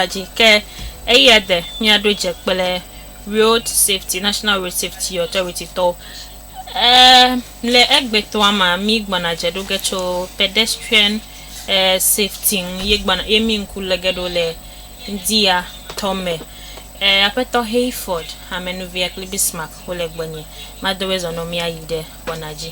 la dzi ke eya de míaɖo dze kple Road Safety National Road Safety Authority tɔwo. E, le egbetɔa ma mi gbɔna dze ɖo ge tso pedestrian e, safety ŋu ye gbɔna ye mi ŋku le ge ɖo le ŋdia tɔme. E, aƒetɔ Hayford, amenuvia kple Bismarck wo le gbɔnye. Madowe zɔnɔ mi ayi ɖe gbɔna dzi.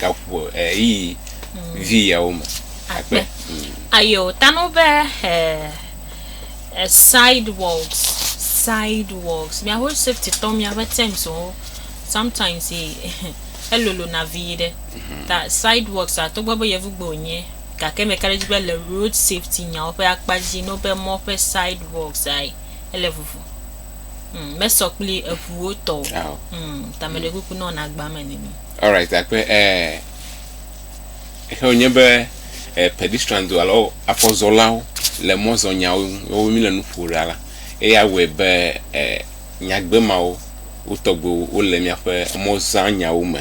gaƒoƒo ɣeyiɣi vi yawo me akpe. Ayo tanu be he eh, sidewalks sidewalks mia ho safety tɔ mia ƒe terms wo sometimes ye elolo na vi yi ɖe mhm. ta sidewalks a to gbe be yevu gbe onye gake me kare dzi be le road safety nyawo ƒe akpa dzi no be mɔ ƒe sidewalks ai ele vuvu mm, mesɔ kpli eʋuwo tɔ o ah, oh. mm, tameɖe kuku nɔ na agba me nini Alright akpe eh ehe wonye be eh, pedestrians alo afɔzɔlawo le mɔzɔnyawo ŋu wowo mi le nu ƒo ɖa la eya wɔe be eh nyagbe mawo wotɔgbe wole míaƒe mɔzanyawo me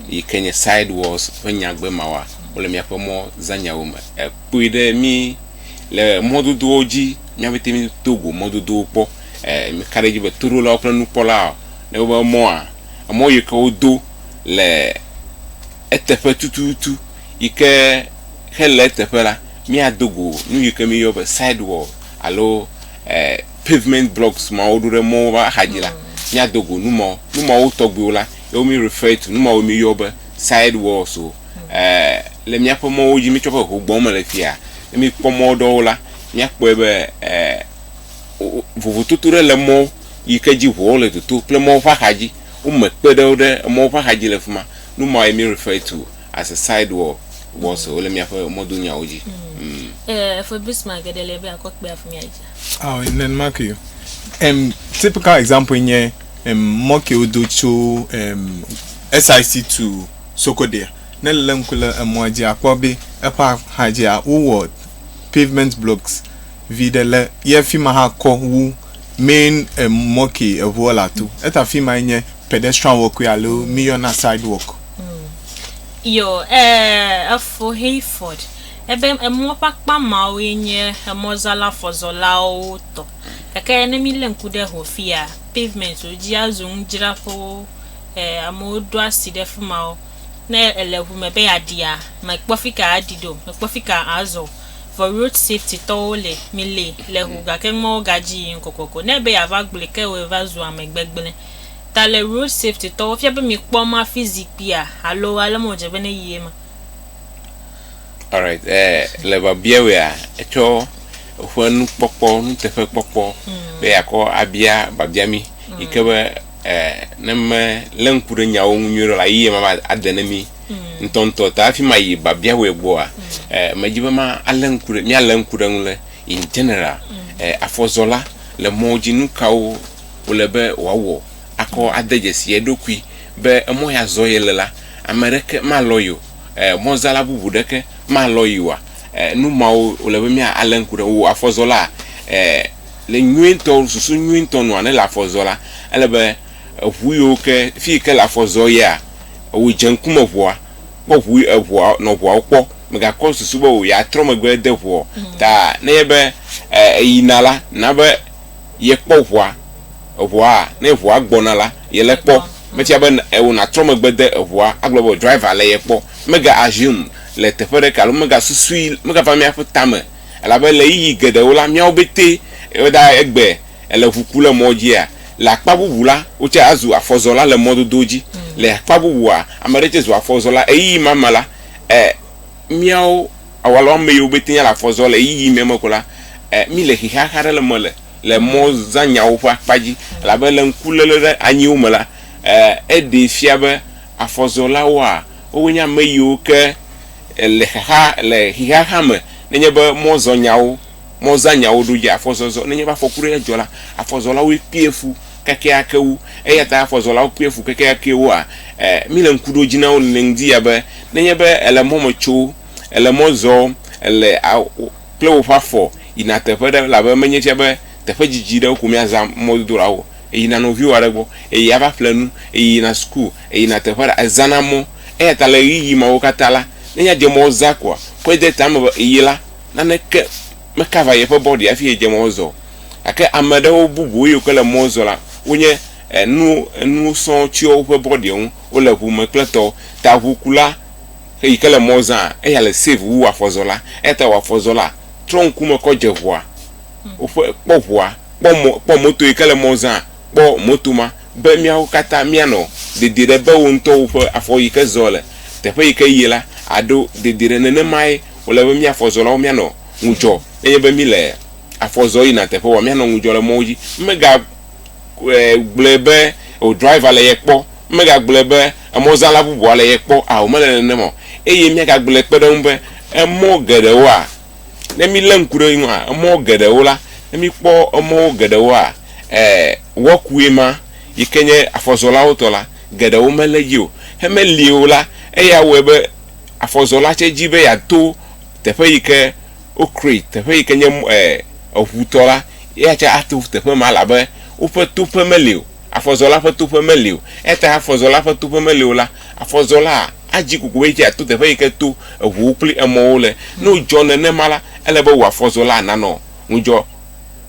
yi ke nye sidewalls ƒe nyagbe mawa wole míaƒe mɔzanyawo me ekpui ɖe mi le mɔdodowo dzi míaƒete mi to go mɔdodowo kpɔ eh meka ɖe dzi be toɖolawo kple nukpɔlawo Ne wobe emɔa, emɔ yi ke wodo le eteƒe tututu yi ke hele eteƒe la, míado go nu yi ke míeyɔ be sidewall alo e pavement blocks ma woɖo ɖe mɔwo ƒe axadzi la, míado go nu mawo. Nu mawo tɔgbiwo la ye wo mi refer to, nu mawo míeyɔ be sidewalls o. E le míaƒe mɔwo dzi mítsɔ ƒe ho gbɔm me le fiya, ne míkpɔ mɔ ɖewo la, míakpɔe be e vovototo ɖe le mɔ. yi ke dzi ʋuawo le toto kple mɔwo ƒe axadzi. Wome kpe ɖe wo ɖe emɔwo ƒe axadzi le fima. Nu mawoe mi refer to as a side wall walls o, wole miaƒe mɔdonyawo dzi. Mm. Uh, for this man, get a little bit of clear for me, Aisha. Ah, oh, then mark you. Um, typical example in here, um, mark you do to um, SIC to Sokodia. Ne lem kule emɔa dzi akpɔ be eƒe axadzia wowɔ pavement blocks Viɖe le yɛ fima hã kɔ wu main emɔ ke eŋuɔ le ato. Eta fimaɛ nye pedestrian walkway alo mí yɔna sidewalk. Yo, e, efo Hayford. Ebe emɔ ƒe akpa mawo ye nye emɔzala fɔzɔlawo tɔ. Gake ne mí lé ŋku ɖe ho fiya, pavement wo dzi azu nudzraƒewo. E, amewo ɖo asi ɖe fimawo. Ne ele ŋu me be yeaɖia, mekpɔ fika aɖi ɖo, mekpɔ fika azɔ. Vɔ road safety tɔwo le mi le le ho gake numawo ga dzi yim kokoko ne be ya va gblɔe ke woe va zu ame gbegble ta le road safety tɔwo fia be mi kpɔ ma fi zikpia alo ale me wodze be ne yi eme. Alright eh le babia wea etsɔ eƒe nukpɔkpɔ nuteƒe kpɔkpɔ be ya kɔ abia babia mi yike be eh ne me le ŋku ɖe nyawo ŋu nyuie ɖe la yi ye ma va ade ne mi. ŋutɔŋutɔ ta hafi ma yi babia wɔe gbɔa, eh, medzi be ma alé ŋku ɖe míalé ŋku ɖe ŋu le in general eh, afɔzɔla le mɔwo dzi nu kawo wòle be wòawɔ akɔ ade dzesi eɖokui be emɔ ya zɔ yele la, ame ɖeke malɔ ye o, eh, mɔzala bubu ɖeke malɔ ye oa? Eh, nu mawo wòle be mía alé ŋku ɖe wò afɔzɔla eh, le nyuie ŋutɔ susu nyuie ŋutɔ nua ne le afɔ zɔ la ele be eŋu yiwo ke fi yi ke le afɔ zɔ yea Ewò dze ŋkume ʋua, kpɔ ʋu eʋua nɔ ʋuawo kpɔ. Megakɔ susu be wò ya trɔ megbe ede ʋu o. Ta ne nye be e eyina la, na be ye kpɔ ʋua. Eʋua ne ʋua gbɔna la, ye le kpɔ. Metia be e wò na trɔ megbe de eʋua agblɔ be driver le ye kpɔ. Mega assume le teƒe ɖe ka alo mega susui, mega va mía ƒe tame. Elabe le ɣeyiɣi geɖewo la, míawo betɛ e da egbe. Èle ŋu ku le mɔ dzia? Le akpa bubu la, wotsɛ azu afɔzɔla le mɔdodowo dzi. Le akpa bubua, ame aɖe tsɛ zu afɔzɔla. Ɣeyiɣi ma me la, e, míawo awu alo ame yiwo be tenya le afɔ zɔ le ɣeyiɣi mɛ me ko la, e, míle xexeaxe aɖe le me le le mɔzãnyawo ƒe akpa dzi. Elabe le ŋkuléle ɖe anyiwo me la, e, eɖee fia be afɔzɔlawoa, wowoe nye ame yiwo ke le xexea, le xexeaxea me nenye be mɔzɔnyawo mɔzãnyawo ɖo dze afɔzɔzɔ. Nenye be afɔku ɖe dzɔ la, afɔzɔlawoe kpea fu kekeake wu. Eya ta afɔzɔlawo kpea fu kekeake wua? Ẽ, míle ŋku ɖo dzi na wo nene ŋdi ya be nenye be èle mɔ me tso, èle mɔ zɔ, èle a wo kple woƒe afɔ yina teƒe ɖe elabe menye fia be teƒe didi ɖewo ko míazã mɔdodo la o. Èyina nɔviwò aɖe gbɔ, èyia va ƒle nu, èyina suku, èyina teƒe aɖe, èzãna mɔ. Eya ta le ɣeyiɣi mawo katã la, nenye adze mɔzã koa, kɔe de ta me be èyi la, naneke mekava yeƒe bɔɖi hafi yedze mɔ zɔ o. Gake ame ɖewo bubu yiwo ke le mɔ zɔ la, wonye enu enu sɔ tsyɔ woƒe bɔɖiwo ŋu. Wole ŋu me kple tɔwo. Ta ŋukula yi ke le mɔ zãa, eya le safe wu afɔzɔla. Eya ta wò afɔzɔla, trɔ ŋkume kɔ dze ŋua. Woƒe, kpɔ ŋua, kpɔ mɔ, kpɔ moto yi ke le mɔ zãa, kpɔ moto ma. Be míawo katã míanɔ dedie ɖe be wò ŋutɔwo ƒe afɔ yi ke zɔ le teƒe yi ke yie la, àɖo dedie ɖe nenemae. Wòle be mí afɔzɔlawo míanɔ ŋudzɔ nenye be míle afɔ zɔm yina teƒe woa, míanɔ ŋudzɔ le mɔwo dzi. Megagblɔe be wò driver le ye kpɔ, megagblɔe be emɔzãla bubua le ye kpɔ ao, mele nenem o. Eye míagagblɔe kpe ɖe eŋu be emɔ geɖewoa, ne mílé ŋku ɖe eŋua, emɔ geɖewo la, ne míkpɔ emɔwo geɖewoa, e, wɔkue ma, yi ke nye afɔzɔlawo tɔ la, geɖewo melé dzi o. Hemeli o la, eya wɔe be, afɔzɔla tsɛ dzi be yeato teƒe yi ke wokreat, teƒe yi ke nye mɔ e eŋu tɔ la, eya tsɛ ato teƒe ma elabe woƒe toƒe meli o. Afɔzɔla ƒe toƒe meli o. Eya ta afɔzɔla ƒe toƒe meli o la, afɔzɔlaa adzi koko be ye tsɛ yeato teƒe yi ke to eŋuwo kple emɔwo le. Ne wodzɔ nenema la, ele be wò afɔzɔla nanɔ ŋudzɔ.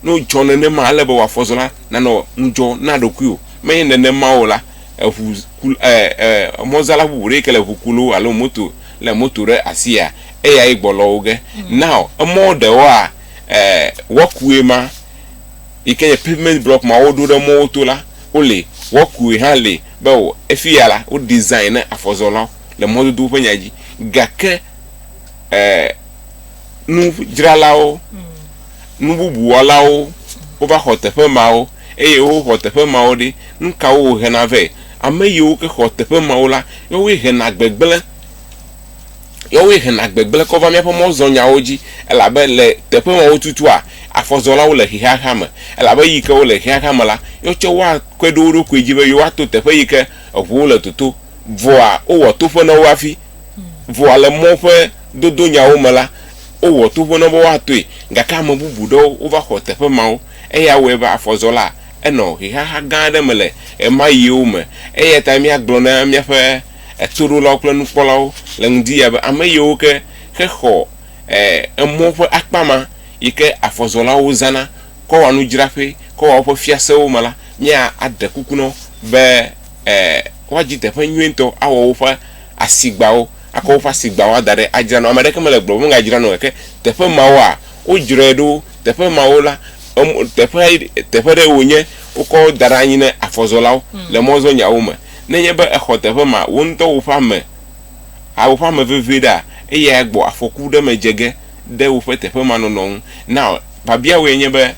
Ne wodzɔ nenema, ele be wò afɔzɔla nanɔ ŋudzɔ na ɖokuiwò. Menye nenema o la, eŋu ku e e emɔzala bubu ɖe ke le eŋu kulu alo moto le moto ɖe asia eya ye gbɔ lɔ wo ge mm. now emɔ ɖewoa e wɔkue ma yi ke nye pavement block ma woɖo ɖe mɔwo to la wole wɔkue hã le be o efi ya la wo design ne afɔzɔlawo le mɔdodowo ƒe nya dzi gake e nudzralawo mm. Nububuwɔlawo wova xɔ teƒe mawo, eye woxɔ teƒe mawo ɖi. Nukawo wòhena vɛ? Ame yiwo ke xɔ teƒe mawo la, yewoe hena gbegblẽ, yewoe hena gbegblẽ kɔ va míaƒe mɔzɔnyawo dzi, elabe le teƒe mawo tutua, afɔzɔlawo le xexeaxea me, elabe eyi ke wole xexeaxea me la, yewo tsɛ woakpe ɖe wo ɖokui dzi be yewoato teƒe yi ke eŋuwo le toto. Vɔa, wowɔ toƒe na wo hafi. Vɔa, le mɔ ƒe dodonyawo me la, Wowɔ tovo na wo be woatɔe, gake ame bubu ɖewo wova xɔ teƒe mawo. Eya wɔe be afɔzɔla enɔ ʋehaha gã aɖe me le ɣemaɣiwo me. Eya tae míagblɔ na míaƒe toɖolawo kple nukpɔlawo le ŋdiya be ame yiwo ke hexɔ emɔ ƒe akpa ma yi ke afɔzɔlawo zãna kɔ wɔa nudzraƒee, kɔ wɔa woƒe fiasewo me la, míaɖe kuku na wo be woadi teƒe nyuietɔ awɔ woƒe asigbawo. Akɔ woƒe asigbawo ada ɖe adzra na wo. Ame aɖeke mele gblɔm be megadzra na wò o. Gake teƒe mawoa, wodzrae ɖo. Teƒe mawo la, em, teƒe, teƒe ɖe wònye wokɔ wo da ɖe anyi ne afɔzɔlawo le mɔzɔnyawo me. Ne enye be èxɔ teƒe ma, wò ŋutɔ woƒe ame, a, woƒe ame vevie ɖea, eyae gbɔ afɔku ɖe me dze ge ɖe woƒe teƒe ma nɔnɔ ŋu. Now, biabia wòe nye be,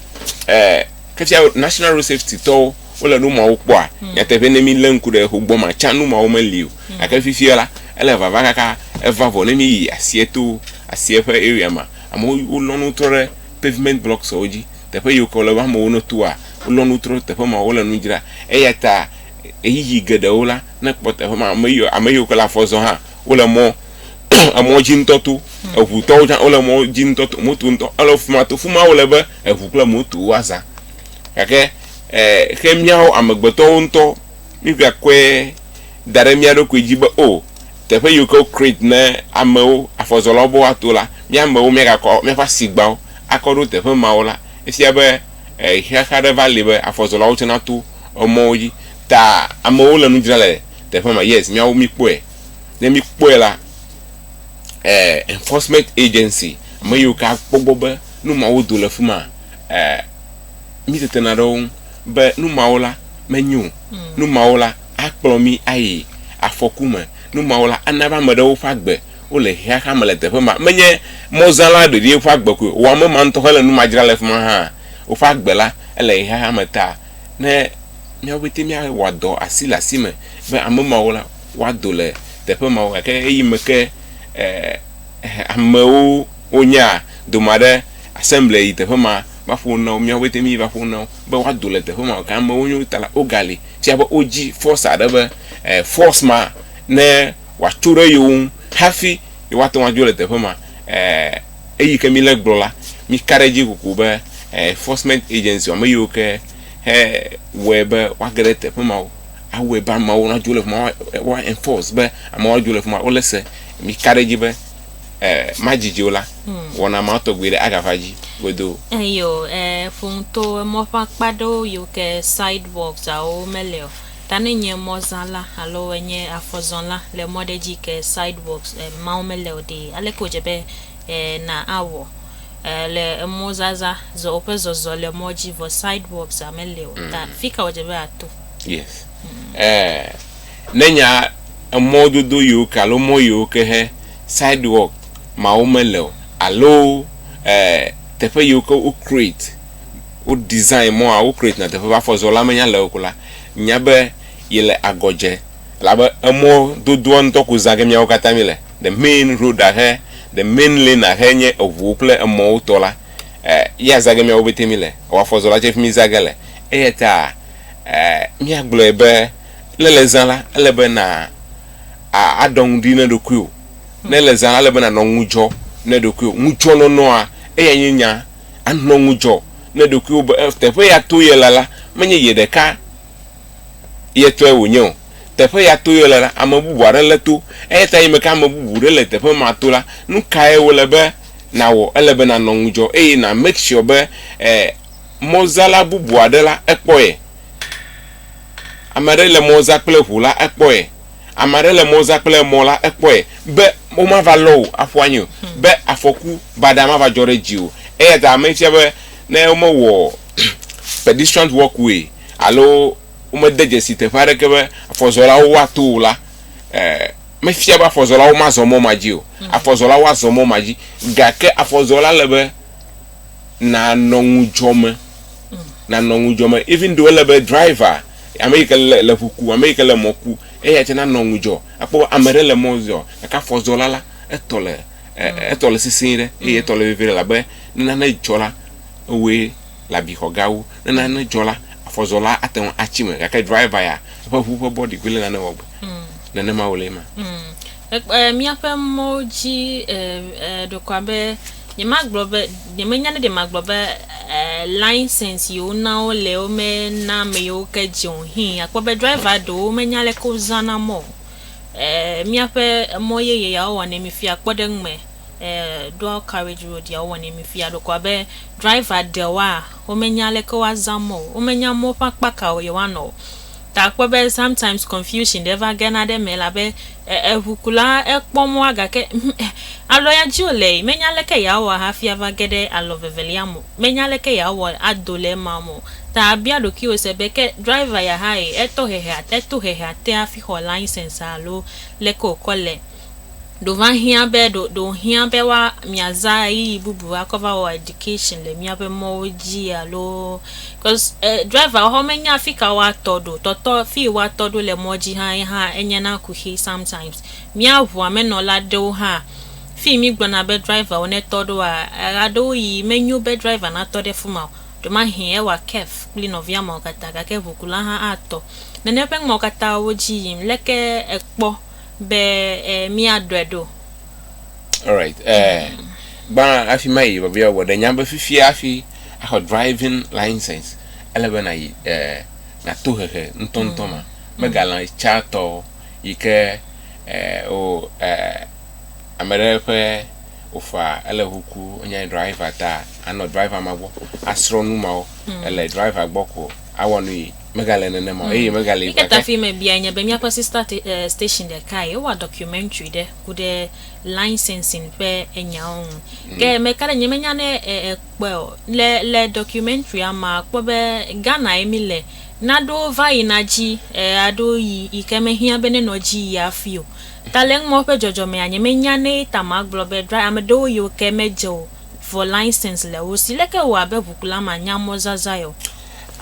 e, ke fia National Road Safety tɔwo, wole nu mawo kpɔa? Hmm. Nyateƒe ne mi lé ŋku ɖe xo gbɔ ma can nu mawo meli o. Hmm. Gake fifia la, ele vava kaka eva vɔ ne mi yi asie to asie ƒe area ma. Amewo wolɔ nu trɔ ɖe pavement blocks wo dzi. Teƒe yiwo ke wole be amewo ne toa, wolɔ nu trɔ teƒe ma wole nu dzra. Eya ta ɣeyiɣi geɖewo la ne kpɔ teƒe ma ame yiwo ame yiwo ke le afɔ zɔ hã wole mɔ emɔ dzi ŋutɔ to. Hmm. Eŋutɔwo hã wole mɔ dzi ŋutɔ to moto ŋutɔ ele fuma to fuma wole be eŋu kple moto woazã. Gake ke míawo amegbetɔwo ŋutɔ míegakɔe da ɖe mía ɖokui dzi be, O, teƒe yiwo ke wokreat ne amewo, afɔzɔlawo be woato la, mía amewo míagakɔ míaƒe asigbawo akɔ ɖo teƒe mawo la, efia be xexa aɖe va li be afɔzɔlawo tsɛ nato emɔwo dzi. Ta amewo le nu dzram le teƒe ma. Yes, míawo míekpɔe. Ne míekpɔe la, enforcement agency, ame yiwo ke akpɔ egbɔ be nu mawo do le fi ma, mítetena ɖe wo ŋu be nu mawo la menyo o, nu mawo la akplɔ mí ayi afɔku me, nu mawo la ana be ame ɖewo ƒe agbe wole xexea me le teƒe ma. Menye mɔzãla ɖeɖi ƒe agbe koe o, wò ame ma ŋutɔ hele nu ma dzram le fi ma hã, woƒe agbe la ele xexea me ta. Ne míawo pɛtɛ míawɔ dɔ asi le asi me be ame mawo la woado le teƒe mawo gake ɣeyiɣi me ke e amewo wonyea, dome aɖe. Asemble yi teƒe ma va ƒo nu na wo, miawo pete mi va ƒo nu na wo be woa do le teƒe ma. Gake amewo nyo ta la woga li fia be wo dzi force aɖe be eh force ma ne woa tso ɖe yewo ŋu hafi ye woa te ŋu adzo le teƒe ma. Eh eyi ke mi le gblɔ la mi ka ɖe edzi kokoko be eh enforcement agency ame yiwo ke he wɔe be woa ge ɖe teƒe ma wo awɔe be ameawo na dzo le fima woa enforce be ameawo adzo le fima wo le se. Mi ka ɖe edzi be. eh, madidi o la, hmm. wɔna ma tɔgbi ɖe agava dzi godo. Eyo, eh, eh fomto emɔ ƒe akpa ɖewo yiwo ke sidewalks awo mele o. Ta ne nye mɔzala alo enye afɔzɔla le mɔ ɖe dzi ke sidewalks eh, mawo mele o ɖe, aleke wòdze be eh, na awɔ eh, le emɔzaza zɔ woƒe zɔzɔ le mɔ dzi vɔ sidewalks amele o. Ta hmm. fika wòdze be ato. Yes. Hmm. Eh, Ne nya emɔ dodo yewo ke alo mɔ yewo ke he, sidewalk, mawo mele o alo e teƒe yewo ke wo create, wo design mɔa, wo create na teƒe be afɔ zɔ la me nya le eo ko la, nya be yele agɔ dze elabe emɔ dodoa ŋutɔ ko zã ke miawo katã mi le. The main road a xe, the main lane a xe nye eŋuwo kple emɔwo tɔ la, e ya zã ke miawo pɛtɛ mi le. Ewafɔ zɔ la tse fimi zã ge le. Eyata e mia gblɔe be. Ne èle zã la, ele be na a aɖɔ ŋu ɖi ne ɖokuiwò. Ne èle zã la, ele be nànɔ ŋudzɔ ne ɖokuiwò. Ŋudzɔnɔnɔa, eyae nye nya. Anɔ ŋudzɔ ne ɖokuiwò be e teƒe ya to ye la la, menye ye ɖeka ye tɔe wònye o. Teƒe ya to ye la la, ame bubu aɖe lé to. Eya ta eyime ke ame bubu ɖe le teƒe ma to la, nu kae wòle be nàwɔ? Ele be nànɔ ŋudzɔ eye na make sure be e mɔzala bubu aɖe la, ekpɔ ye. Ame aɖe le mɔ zã kple ʋu la, ekpɔe. Ame aɖe le mɔ zã kple mɔ la, ekpɔe be womava lɔ wò aƒu anyi o, hmm. be afɔku baɖa mava dzɔ ɖe dziwò. Eya ta ame fia be ne womewɔ pedestrian walkway alo womede dzesi teƒe aɖeke be afɔzɔlawo woato o la, eh, mefia be afɔzɔlawo mazɔ mɔ ma dzi o. Hmm. Afɔzɔlawo azɔ mɔ ma dzi, gake afɔzɔla le be nanɔ ŋudzɔ me. nanɔ ŋudzɔ me even though ele be driver ame yi ke le le ŋu ku ame yi ke le mɔ ku eya tsɛ nanɔ ŋudzɔ akpɔ be ame ɖe le mɔ zɔ gake afɔzɔla la etɔ le e etɔ le sesɛ̃e ɖe eye etɔ le vevie ɖe elabe ne nane dzɔ la ewɔe le abixɔ gawo ne nane dzɔ la afɔzɔla ate ŋu atsi me gake driver ya eƒe ŋu ƒe bɔɖi koe le nane wɔ gbe nenema wòle ema. E, e, míaƒe mɔwo dzi e, e, ɖekɔa be nyemagblɔ be nyemenya ne ɖe magblɔ be e, license yiwo na wo le wo mena ame yiwo ke dze o hin akpɔ be driver ɖewo menya leke wozana mɔ o. E, míaƒe mɔ yeye yawo wɔnɛ mi fia kpɔ ɖe eŋu me e, dual carriage road yawo wɔnɛ mi fia ɖekɔa be driver ɖewoa womenya leke woazã mɔ o womenya mɔ ƒe akpa kawo yewoanɔ o. Ta kpɔ be sometimes confusion ɖe va gena ɖe eme elabe e, eʋukula ekpɔ mɔa gake ŋ, e, alɔya dzi wòle yi, menya aleke yeawɔ hafi ava ge ɖe alɔ vevelia me o, menya aleke yeawɔ ado le ema me o. Ta bia ɖokuiwò se be, ke driver ya hãe, etɔ hehea, eto hehea te hafi xɔ license alo leke wòkɔ le? Ɖo va hiã be ɖo ɖo hiã be wa miaza ɣeyiɣi bubu akɔ va wɔ education le miaƒe mɔwo dzi alo cause eh, driver hɔ menya fi ka woatɔ ɖo. Tɔtɔ fi woatɔ ɖo le mɔ dzi hã ye hã enye na kuxi sometimes. Mía ʋua me nɔla aɖewo hã fi mi gblɔna be driverwo ne tɔ ɖoa eɣe aɖewo yi menyo be driver natɔ ɖe fi ma o. Ɖo ma hi ewa kef kple nɔvia mawo katã gake ʋukula hã atɔ. Nene ƒe ŋɔ katã wo dzi yim leke ekpɔ. be eh, míaɖɔe ɖo. Alright. Eh, gbã afi ma yi bɔbɔe wɔ ɖe nya be fifia hafi axɔ driving license ele be na yi eh, na to hehe ŋutɔŋutɔ ma megalã tsa tɔ yi ke eh, o eh, ame ɖe ƒe ofa ele huku onye driver ta anɔ driver ma gbɔ asrɔ nu mawo ele driver gbɔ ko. awɔ nui megale nenema o eye megale Mika ta fi me biae nye be míaƒe sister te, eh, station ɖekae wowɔ documentary ɖe ku ɖe licensing ƒe enyawo ŋu. Ke me ka ɖe nye menya ne eh, ekpɔe o. Le, le documentarya mea kpɔ be Ghanae mi le. Naɖo va yina dzi eh, aɖo yi yi ke me hiã be ne nɔ dzi yi afi o. Ta le eŋumɔ ƒe dzɔdzɔmea nye menya ne ta ma gblɔ be dra, ame ɖewo yiwo ke me dze o. vɔ license le wo si. Leke wɔ abe ʋukula ma nya mɔ zazai o?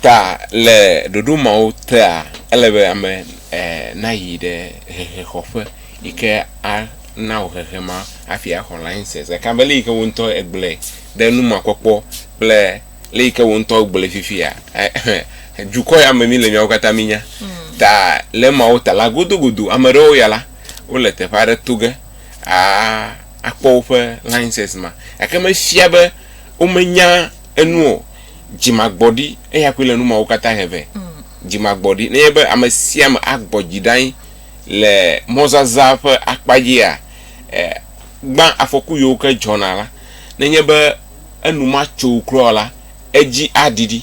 Ta le ɖoɖo mawo tea, ele be ame nayi ɖe hehexɔƒe yi ke a na wò hehe ma hafi a xɔ license. Gake abe le yi ke wò ŋutɔ e gblɔe ɖe nu ma kpɔkpɔ kple le yi ke wò ŋutɔ gblɔe fifia, dukɔ ya me mi le miawo katã mi nya. Ta le emawo ta la, godogodo ame ɖewo ya la, wole teƒe aɖe to ge a. akpɔ woƒe license ma gake mefia be womenya enu o. Dzimagbɔɖi eya koe le nu mawo katã he vɛ. Dzimagbɔɖi nenye be ame sia ame agbɔ dzi ɖa anyi le mɔzazã ƒe akpa dzia e, gbã afɔku yiwo ke dzɔna la, nenye be enu ma tso wo kura o la, edzi aɖiɖi.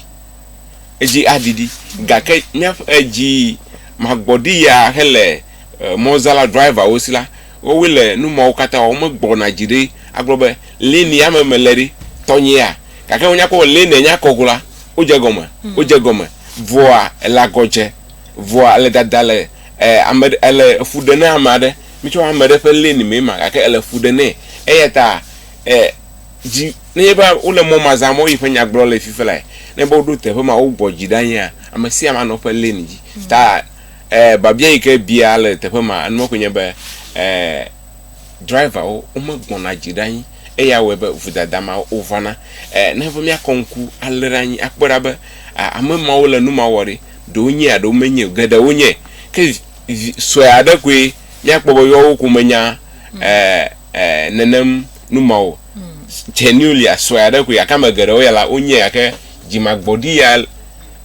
Edzi aɖiɖi. Gake míaƒe edzi magbɔɖi ya hele e, mɔzãla driverwo si la, Woawoe le nu mawo katã wɔm. Womegbɔna dzi ɖi agblɔ be, Lé ni ame mele ɖi, tɔnyea? Gake wonya kpɔ be lé nènya akɔ go la, wodze egɔme. Wodze egɔme. Vɔa, èle agɔ dze. Vɔa, èle dada le ame ɖe, èle fu ɖe na ame aɖe. Mitsɔ ame ɖe ƒe lé ni mee ma gake èle fu ɖe nɛ. Eya ta dzi, nenye be wole mɔ ma zãm, woyi ƒe nya gblɔ le fifi lae. Ne be woɖo teƒe ma, wogbɔ dzi ɖa nyea, ame sia ame anɔ eƒe lé ni dzi. Ta. E, biabia yi ke bia le teƒe ma enumɔ koe nye be e, driverwo womegbɔna dzi ɖe anyi eya wɔe be vodada ma wovana. E, ne be míakɔ ŋku alé ɖe anyi akpɔe ɖa be a, ame mawo le nu ma wɔ ɖe ɖewo nye aɖewo menye o, geɖewo nye. Ke vi, vi sue aɖe koe míakpɔ be yewo ko menya e, e, nenem nu ma o. Genulia sue aɖe koe gake ame geɖewo ya la wonye gake dzimagbɔɖi ya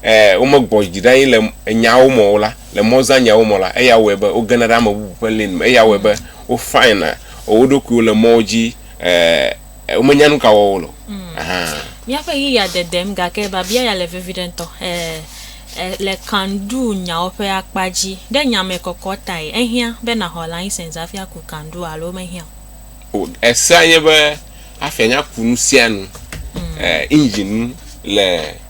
Ẽ, womegbɔ dzi ɖe anyi le enyawo me o la, le mɔzãnyawo me o la, eya wɔe be wogena ɖe ame bubu ƒe lin me. Eya wɔe be wofana wo ɖokuiwo le mɔwo dzi, ẽ, womenya nu ka wɔm wole o. Ahan. Míaƒe ɣi ya dedem, gake biabia ya le veviɖe ŋutɔ. Ẽ, ẽ, le Kandou nyawo ƒe akpa dzi, ɖe nya me kɔkɔ tae, ehiã be nàxɔ layisensi hafi aku kandou alo mehiã o? O, esea nye be afia nya ku nusianu, ẽ, engine nu le.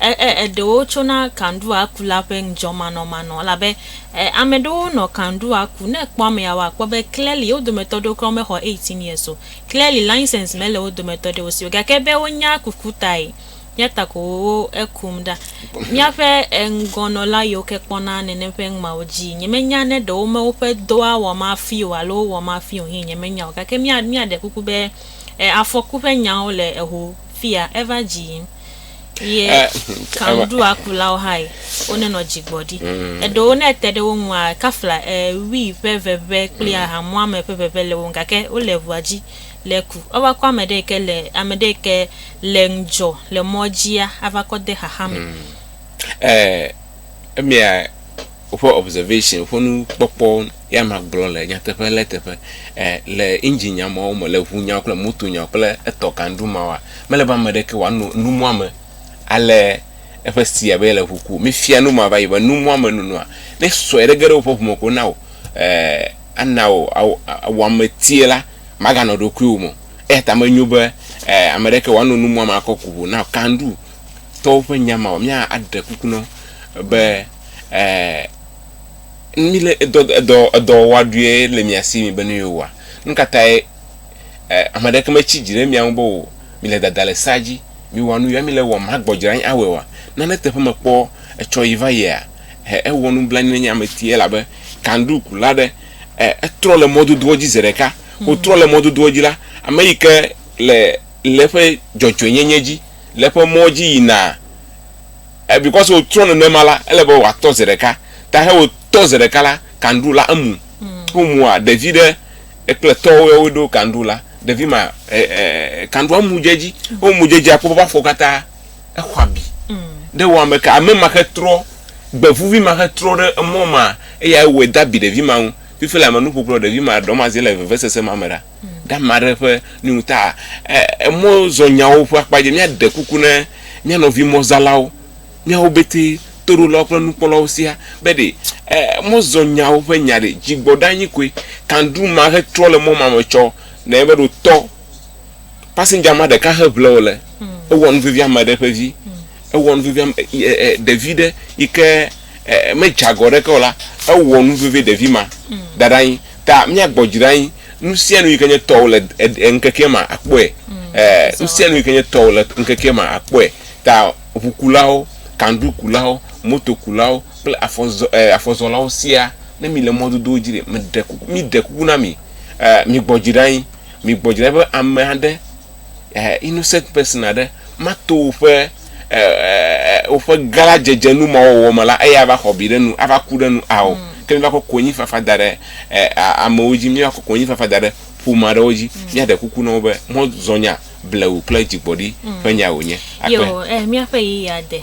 Eɖewo tsona kanɖua ku la ƒe ŋdzɔmanɔmanɔ elabe ame aɖewo nɔ kanɖua ku. Ne ekpɔ amea wa kpɔ be kleli wo dometɔ aɖewo kura me xɔ 18 years o. Kleli license me le wo dometɔ aɖewo si o gake be wo nya kuku tae yata ko wo ekum ɖa. Miaƒe eŋgɔ nɔla yiwo ke kpɔna nenem ƒe ŋmawo dzi nye me nya ne ɖewo me woƒe dɔa wɔ ma fi o alo wɔ ma fi o hɛ nye me nya o gake mia mia ɖe kuku be afɔku ƒe nyawo le eho fia eva dzi yim. ye kanuɖuakulawo hã yi wonenɔ dzigbɔɖi mm. eɖewo ne ete ɖe wo ŋua kafla eh, wii ƒe veve kple mm. ahamuame ƒe veve le wo gake wole ʋua dzi le ku ava kɔ ame ɖe ke le ame ɖe ke le ŋdzɔ le mɔ dzia ava kɔ de xaxa me mm. eh, emia Woƒe observation, woƒe nukpɔkpɔ ya magblɔ le nyateƒe lé teƒe e le engine nya mawo me, le ŋu nyawo kple moto nyawo kple etɔ kanɖu mawoa, mele be ame ɖeke wòano numua me ale eƒe sti abe yele ŋu ku. Mefia nu ma va yi be numua me nonoa, ne sɔe ɖe ge ɖe woƒe ŋu me ko na wò e ana wò awo wɔametie la, maganɔ ɖokuiwò me o. Eya ta menyo be e ame ɖeke wòano numua me akɔ ku ŋu na wò. Kanɖu tɔwo ƒe nya mawo, mía aɖe kuku na wo be. mi le edɔ edɔ edɔ wa ɖuie le mia si mi be nu yewo wa nu ka tae ame aɖeke metsi dzi ɖe mia ŋu be o mi le dada le sa dzi mi wa nu ya mi le wɔm hagbɔdzra anyi awɔe wa nane teƒe mekpɔ etsɔ yi va yia he ewɔ nublanui nenye ame ti elabe kandu kula ɖe e etrɔ le mɔdodoa dzi ze ɖeka wotrɔ le mɔdodoa dzi la ame yi ke le le eƒe dzɔdzɔenyenye dzi le eƒe mɔ dzi yina E because wo trɔ nenema la, ele be wa tɔ zeɖeka. Ta he wo tɔ zeɖeka la, kanɖu la emu. Ho mu a ɖevi ɖe ekple tɔ wo wo ɖo kanɖu la, ɖevi ma e e kanɖu a mu djedzi. Ho mu djedzi a kpɔ ba fɔ kata exɔ abi. Ɖe wo ame ka ame ma xe trɔ gbevuvi ma xe trɔ ɖe emɔ ma eya e wɔ da bi ɖevi ma ŋu. Fifi la me nu kpokplɔ ɖevi ma ɖɔ ma ze le vevesese ma me ɖa. ɖe ame aɖe ƒe nu ta emɔzɔnyawo ƒe akpa dzi. Míaɖe kuku na mía nɔvi mɔzalawo, míawo betɛ toɖolawo kple nukpɔlawo siaa be ɖe mɔzɔnyawo ƒe nya ɖe dzigbɔɖi anyi koe kandru ma hetrɔ le mɔ ma me tsɔ nɔ eƒe ɖotɔ passenger ma ɖeka heʋle wòle ewɔ nu vevi ame aɖe ƒe vi. Ewɔ nu vevi ame e, e, ɖevi ɖe yi ke e, medze agɔ ɖeke o la, ewɔ nu vevi ɖevi ma mm. da ɖe anyi. Ta míagbɔ dzi ɖe anyi, nu sia nu yi ke nye tɔwò le ŋkekea me akpɔe. Mm. Nu sia nu yi ke nye tɔwò le ŋkekea me akpɔe. Ta ʋukulawo, kandukulawo, motokulawo kple afɔzɔ, afɔzɔlawo sia, ne mi le mɔdodowo dzi ɖe, meɖe kuku, mi ɖe kuku na mi, mi gbɔ dzi ɖe anyi, mi gbɔ dzi ɖe be ame aɖe innocent person aɖe mato woƒe woƒe gã dzedzenu ma wɔwɔ me la eya va xɔ bi ɖe nu ava ku ɖe nu ao mm. ke mi va kɔ konyifafa da ɖe amewo dzi mi va kɔ konyifafa da ɖe ƒome aɖewo dzi mm. miaɖe kuku na wo be mɔzɔnya blewu kple dzigbɔɖi mm. ƒe nya wònye akpe. míaƒe yeyea de